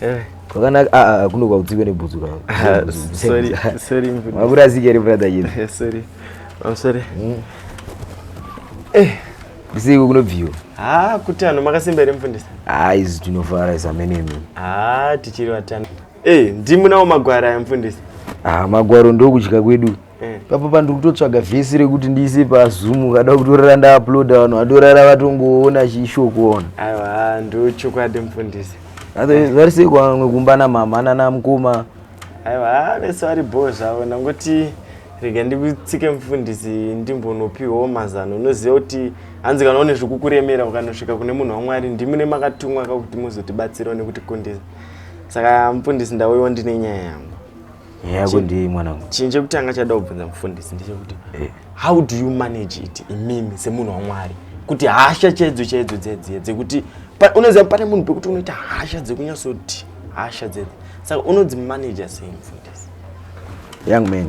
Eh. kwakanaka ah, ah, ah, kuno kwakutsiwe nebhutsu kwakurasike rebrother yedu ndisiko kunobviwa ha kuti anhu makasimba here mufundisi ha izi tinofara zamenemi ha tichiri vatano e eh, ndimunawo magwara aya mufundisi ha magwaro ndokudya kwedu ah, Eh. Papa pandiri kutotsvaga vhesi rekuti ndiise pazoom ukada kutorara ndauploada vanhu vatorara vatongoona chishoko ona aiwa ndochokwadi mufundisi vari sei kwamwe kumba namama nanamukoma aiwa vese vari bho zvavo nangoti rega ndikutsike mufundisi ndimbonopiwawo mazano unoziva kuti hanzi kana une zvekukuremera ukanosvika kune munhu wamwari ndimi nemakatumwa kakuti muzotibatsirawo nekutikundisa saka mufundisi ndauyiwo ndine nyaya yangu Yeah, kundi mwanangu. Chinhu chekutanga chada kubvunza mufundisi ndechekuti eh. how do you manage it imimi semunhu waMwari kuti hasha chaidzo chaidzo dzedziye dzekuti unoziva pane munhu pekuti unoita hasha dzekunyasoti hasha dzedzi saka unodzimanaja sei mufundisi young man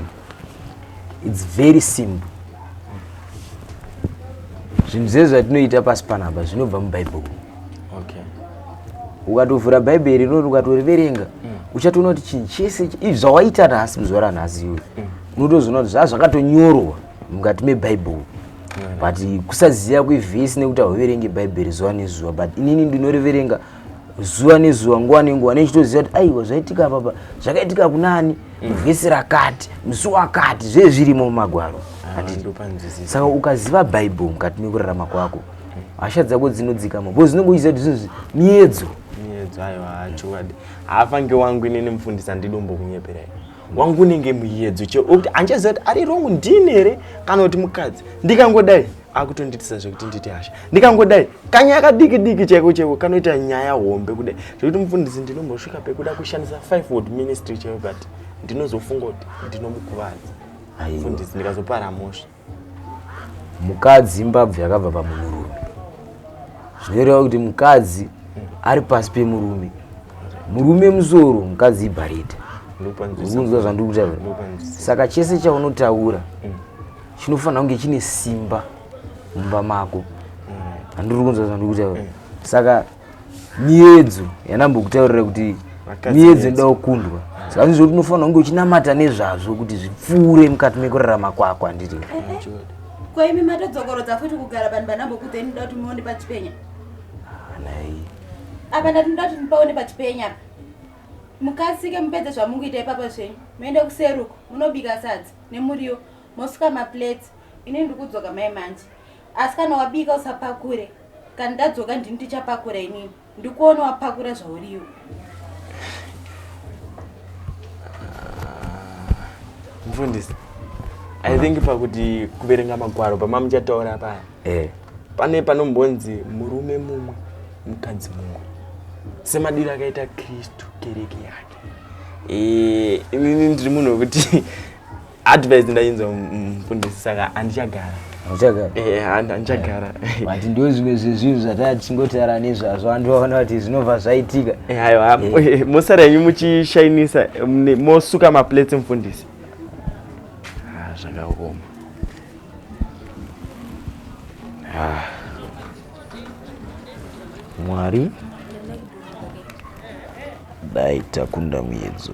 its very simple zvinhu zvezvatinoita pasi panapa zvinobva mubhaibheri okay ukatovhura bhaibheri rinori ukatoriverenga mm. uchatoona kuti chinhu chese izvi zvawaita nhasi muzuva ranhasi iwe mm. unotozoona kuti zvaa zvakatonyorwa mukati mebhaibheri mm. but kusaziva kwevhesi nekuti hauverenge bhaibheri zuva nezuva but inini ndinoriverenga zuva nezuva nguva nenguva nechitoziva kuti aiwa zvaitika papa zvakaitika kunani muvhesi rakati musi wakati zve zvirimo mumagwaro saka ukaziva bhaibheri mukati mekurarama kwako hasha dzako dzinodzikama bcause unenge uchiziva kuti zvinhu miedzo miedzo aiwa chokwadi haafange wangu inini mufundisi andidi umbokunyeperai wangu unenge muyedzo chekuti andichaziva kuti ari wrong ndini here kana kuti mukadzi ndikangodai akutondiitisa zvekuti nditi hasha ndikangodai kanyaya kadiki diki chaiko chaiko kanoita nyaya hombe kudai zvekuti mufundisi ndinombosvika pekuda kushandisa five word ministry chaio but ndinozofunga kuti ndinomukuvadza mufundisi ndikazopara mosva mukadzi imbabvu yakabva pamurume zvinoreva kuti mukadzi ari pasi pemurume murume musoro mukadzi ibharita unzwa zvandiri kutaura saka chese chaunotaura mm. chinofanira kunge chine simba mumba mako mm. handiri kunzwa zvandiri kutaura mm. saka miyedzo yandambokutaurira kuti miyedzo inoda kukundwa saka ndizvo kuti unofanira kunge uchinamata nezvazvo kuti zvipfuure mukati mekurarama kwako handiti eh, eh. kwaimi matodzokorodza futi kugara vanhu vanambokuta inoda kuti muone pachipenya nai apa ndatinoda kuti mupaone pachipenya apa mukasike mupedze zvamunguita ipapa zvenyu muende kuseruko munobika sadzi nemuriwo mosuka maplates ini ndikudzoka mai manje Asi kana wabika usapakure. Kana ndadzoka ndini tichapakura inini. Ndikuona wapakura zvauriwo. Mfundisi. I think pakuti kuverenga magwaro pamamuchataura paya. Eh. Pane panombonzi murume mumwe mukadzi mumwe. Semadiro akaita Kristu kereke yake. Eh, inini ndiri munhu wekuti advice ndainzwa mfundisi saka andichagara uchagara eh, andichagara but ndo zvimwe zvezvinhu zvataa tichingotara nezvazvo vandu vaona kuti zvinobva zvaitika eh, aiwa eh. mosara yenyu muchishainisa mosuka maplates mfundisi ah, zvakaoma ah. mwari dai takunda muyedzo